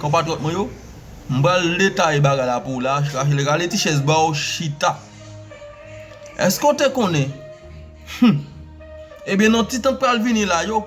Konpatriyòt mwen yo, m pral detaye bagay la pou w la, chachele rale ti chèz ba w chita. Èske w te konnen? Hum! Ebyen nan ti tan k pral vini la yo,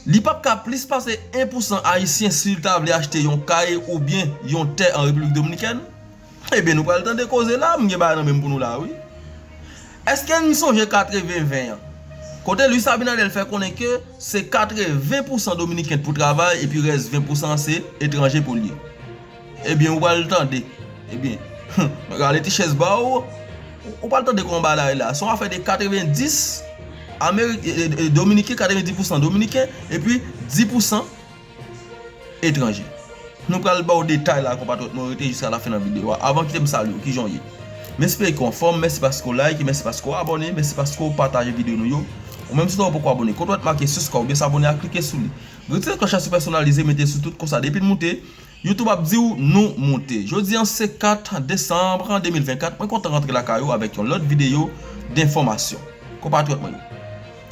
li p ap ka plis pase 1 pousan ayisyen si l ta vle achte yon kay oubyen yon tè an Repiblik Dominikèn, Ebyen nou pral tande koze la, m gen bagay nan menm pou nou la wi. Eske n sonje 80 20 an? Kote Luis Abinader fè konnen ke se 80 pousan dominiken t pou travay epi rès 20 pousan an se etranje pou l ye. Ebyen ou pral tande, ebyen humm rale ti chèz ba w, ou pral tande kòman bagay la ye la. Son afè de 90 ameriken, dominiken 90 pousan dominiken epi 10 pousan. etranje. Nou pral baw detay la konpatriyòt mwen rete jiska lafen nan videyo a. Avan kitem salyew kijan ou ye? M espere ke w anfòm, mèsi paske w like, mèsi paske w abòne, mèsi paske w pataje videyo nou yo. Ou menm si w pa poko abòne kote w wè t make siskrayb oubyen sabone a klike sou li. Retire klòch la sou pèsonalize mete sou tout konsa depi n moute YouTube ap diw nou moute. Jodi an se 4 desanm 2024 mwen kontan rantre lakay ou avèk yon lòt videyo denfòmasyon konpatriyòt mwen yo.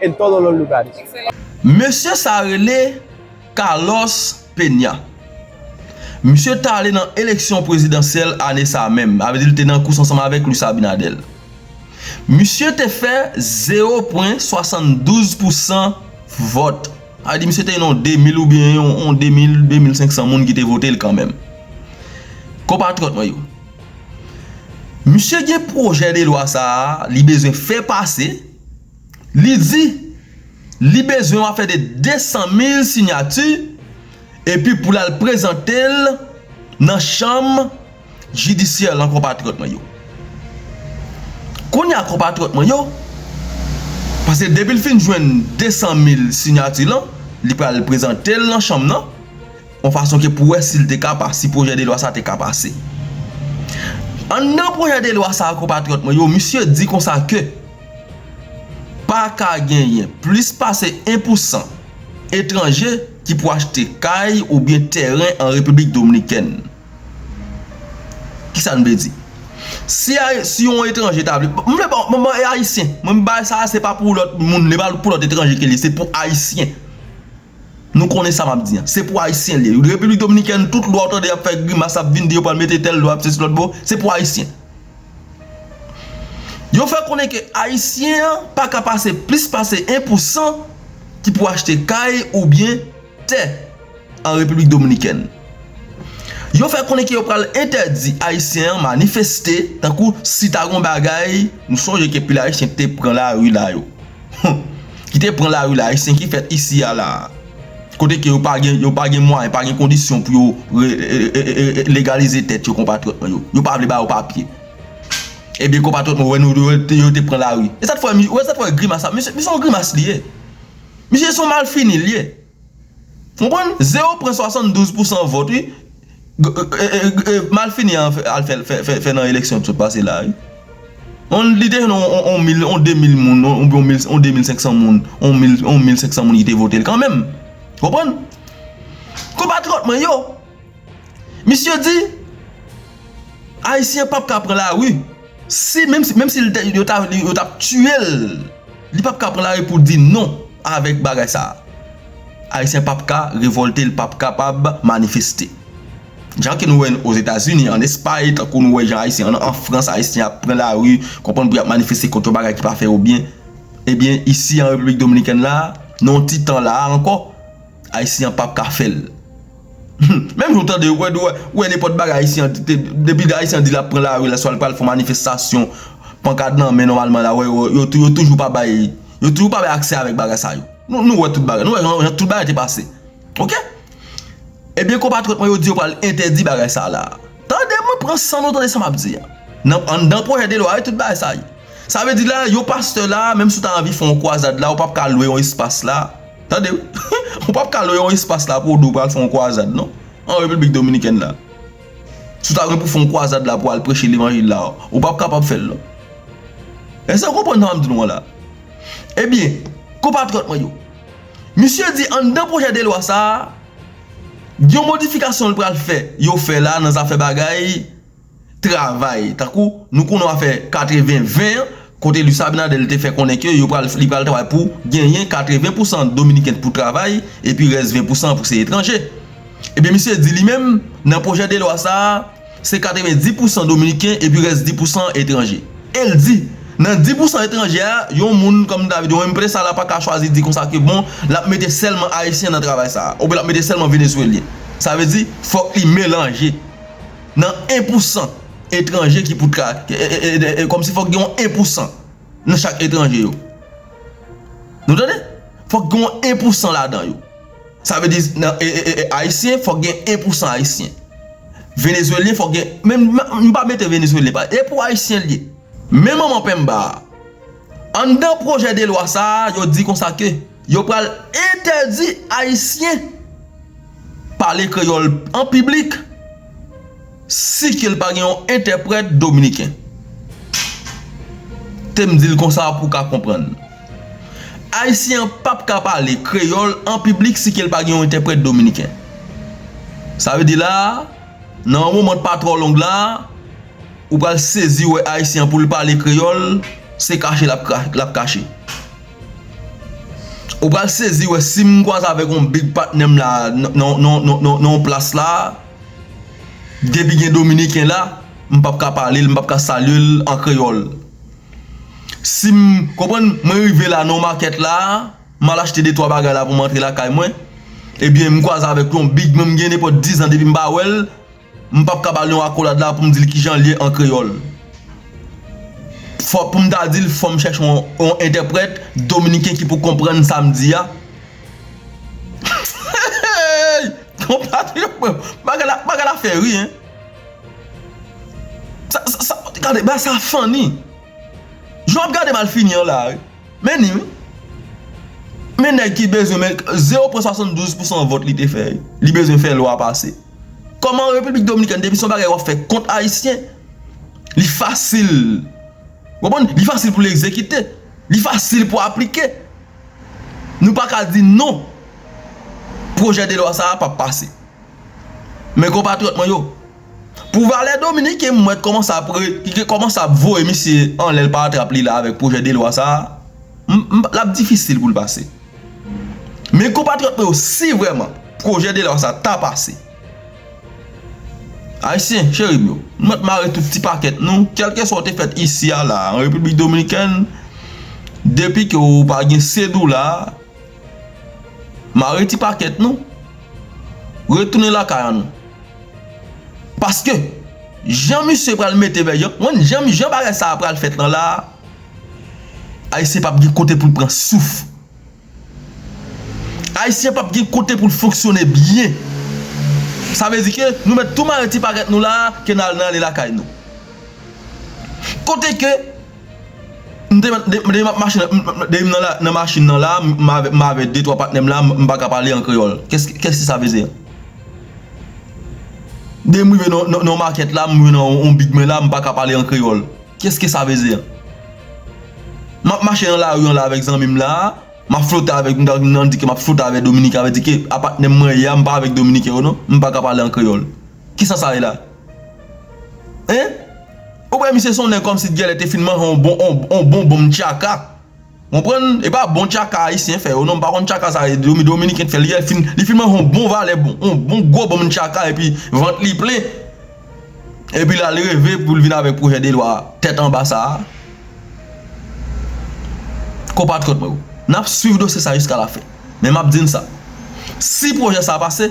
en todos los lugares. Mesye sa rele Carlos Peña. Misye t ale nan eleksyon prezidansyèl ane sa a menm. Sa vle di li te nan kous ansanm avèk Luis Abinader. Misye te fè zewo pwen swasann-douz pou san vòt. Sa vle di misye te gen yon demil oubyen yon demil, demil senk san moun ki te vote l kanmenm. Konpatriyòt mwen yo, misye gen pwojè de lwa sa a li bezwen fè pase. Li di li bezwen yon afè de 200 mil sinyati epi pou l al prezante l nan chanm jidisyè lan konpatriyòt mwen yo. Kounye a konpatriyòt mwen yo, pase depi l fin jwenn 200 mil sinyati lan, li pral prezante l nan chanm nan, yon fason ke pou wè si l te ka pa, si pwojè de lwa sa te ka pase. Anndan pwojè de lwa sa konpatriyòt mwen yo, misye di konsa ke. Pa ka genyen plis pase 1 pou san etranje ki pou achte kay oubyen tèren an Repiblik Dominikèn. Kisa n vle di? Si a, si yon etranje ta vle, m vle ban, m ban e Ayisyen. Mwen m bay sa a se pa pou lòt moun, li pa pou lòt etranje ke li ye, se pou Ayisyen. Nou konnen sa map di an. Se pou ayisyen liye. Repiblik dominikèn tout lwa ou tande yap fè grimas ap vin di yo pral mete tèl lwa ap sesi lòt bo, se pou ayisyen. Yo fè konnen ke ayisyen an pa ka pase plis pase 1 pou 100 ki pou achte kay ou byen tè an repiblik dominikèn. Yo fè konnen ke yo pral entèdi ayisyen an manifeste tankou si ta gon bagay, nou sonje ke pil ayisyen te pran lari la yo. Humm ki te pran lari la ayisyen ki fèt isi a la kote ke yo pa gen yo pa gen mwayen pa gen kondisyon pou yo eee legalize tèt yo konpatriyòt mwen yo yo pa vle ba yo papye ebyen konpatriyòt mwen yo wè nou yo te pran lari e sa k fè ou wè sa k fè grimas sa misye se yon grimas li ye misye se yon malfini li ye. Konprann? Zero pran 72 pousan vòt wi malfini an al fè nan eleksyon ki sot pase la wi. On li te jwenn on mil, on 2000 moun, on 2500 moun, on 1500 moun ki te votel kanmenm. Konprann? Konpatriyòt mwen yo! Misye di Ayisyen pap ka pran lari si menm si yo tap tiye l li pap ka pran lari pou l di non avèk bagay sa. Ayisyen pap ka revòlte li pap kapab manifeste. Jan ke nou wè o Zetazini, an Espay tankou nou wè jan Ayisyen an Frans Ayisyen ap pran lari konprann pou y ap manifeste kont yon bagay ki pa fè yo byen. Ebyen isi an Repiblik Dominikèn la nan yon ti tan la ankò Ayisyen an pap ka fè l. Menm jan w tande yo, ou wè nenpòt bagay ayisyen an di, depi ayisyen an di l ap pran lari la, swa l pral fè yon manifestasyon, pankad nan men nòmalman la, yo toujou pa bay, yo toujou pa bay aksè avèk bagay sa yo. Nou wè tout bagay, nou wè jan tout bagay te pase. Ok? Ebyen konpatriyòt mwen yo di yo pral entèdi bagay sa la. Tande mwen, pran san nou tande sa m ap di an. Anndan pwojè de lwa yo tout bagay sa ye. Sa vle di la, yon pastè la, menm si w ta anvi fè yon kwazad la, ou p ap ka lwe yon espas la. Tande wi, ou pap ka lwe yon espas la pou w di w pral fè yon kwazad non, an Repiblik Dominikèn la. Si w ta gen pou w fè yon kwazad la pou w al preche levanjil la, ou pap kapab fè l non. Èske nou konprann sa m ap di nou an la? Ebyen, konpatriyòt mwen yo, misye di anndan pwojè de lwa sa a, gen yon modifikasyon l pral fè, yo fè la nan zafè bagay, travay tankou nou konnen w afè 80 20 an kote Luis Abinader li te fè konnen ke yo pral li pral travay pou genyen 80 pousan dominiken t pou travay epi rès 20 pousan an pou se etranje ebyen misye di li menm nan pwojè de lwa sa a se 90 pousan dominiken epi rès 10 pousan an etranje el di nan 10 pousan etranje a yon moun kòm David yon empresa la paka chwazi di konsa ke bon lap mete sèlman ayisyen nan travay sa a oubyen lap mete sèlman venezuelyen sa vle di fòk li melanje. nan 1 pou 100 etranje ki pou ta ka kòm si fòk gen yon 1 pou 100 nan chak etranje yo nou tande fòk gen yon 1 pou 100 ladan yo sa vle di nan ayisyen fòk gen 1 pou 100 ayisyen venezuelyen fòk gen menm m pa mete venezuelyen e pou ayisyen l ye menm manman penmba a. Anndan pwojè de lwa sa a, yo di konsa ke yo pral entèdi Ayisyen pale kreyòl an piblik si ke l pa gen yon entèprèt dominiken. Te m di l konsa pou w ka konprann. Ayisyen an p ap ka pale kreyòl an piblik si ke l pa gen yon entèprèt dominiken. Sa vle di la a, nan yon moman pa twò long la a, Ou pral sezi wè Ayisyen an pou l pale kreyòl, se kache l ap kache. Ou pral sezi wè si m kwaze avèk yon big patnè m la nan yon plas la, depi gen Dominiken la, m p ap ka pale l, m p ap ka salye l an kreyòl. Si m, konprann, mwen rive la nan yon makèt la, m al achte detwa bagay la pou m antre lakay mwen, ebyen m kwaze avèk yon big mwen m gen nenpòt dizan depi m pa wè l, M pap ka ba l yon akolad la pou m di l kijan l ye an kreyòl. Fò pou m ta di l fò m chèche yon entèprèt dominiken ki pou konprann sa m di a. Hehehehey! Konpatriyòt mwen yo, bagay la, bagay la fè ri, hein! Sa, sa, gade, bagay sa funny! Jan w ap gade malfini an la a wi. Men ni wi. Men nèg ki bezwen men, 0,72 pousan vòt li te fè, li bezwen fè lwa pase. Koman repiblik dominikèn depi son bagay wap fè kont ayisyen li fasil ou konprann li fasil pou l egzekite li fasil pou aplike nou pa ka di non pwojè de lwa sa a pap pase men konpatriyòt mwen yo pou valè dominiken m wè kòman sa pre ki kòman sa ap voye misye anlè l pa atrap li la avèk pwojè de lwa sa a m lap difisil pou l pase. Men konpatriyòt mwen yo si vrèman pwojè de lwa sa ta pase Ayisyen cheri m yo nou mèt mare tout ti pakèt nou kèlkeswa ou te fèt isi a la an Repiblik Dominikèn depi ke ou pa gen sedoula mare ti pakèt nou retounen lakay an nou paske jan misye pral mete vèy yo konn jan bagay sa a pral fèt lan la a. Ayisyen pap gen kote poul pran souf. Ayisyen pap gen kote poul fonksyone byen. Sa vle di ke nou mèt tou mare ti pakèt nou la ke nal nan ale lakay nou. Kote ke m te mèt depi map mache depi m nan machin nan la m avek 2 3 patnèm la m paka pale an kreyòl. Kèske sa vle di? Depi m rive nan yon makèt la m rive nan yon big men la m paka pale an kreyòl. Qu'est ce que ça veut dire? Map mache nan lari an la avèk zanmim la, map flote avèk m tank nan di ke map flote avèk dominiken avè di ke a patnèm mwen ye a m pa avèk dominiken yo non m paka pale an kreyòl kisa sa ye la hein ou wè misye son nèg kòmsi t gèlè te fin manyen on bon on bon bonm tchaka. Konprann e pa bon tchaka ayisyen fè yo non m pa konn tchaka sa dominiken k fè li li fin manje yon bon valè yon bon gwo bonm tchaka epi vant li plen epi l al reve pou l vin avèk pwojè de lwa tèt anba sa a konpatriyòt mwen yo n ap swiv dosye sa jiska lafen men m ap di n sa si pwojè sa a pase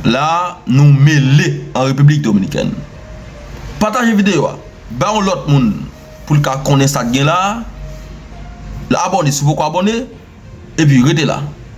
La a nou mele an Repiblik Dominikèn. Pataje videyo a bay yon lòt moun pou l ka konnen sa k gen la a. Abòne si w poko abòne epi rete la.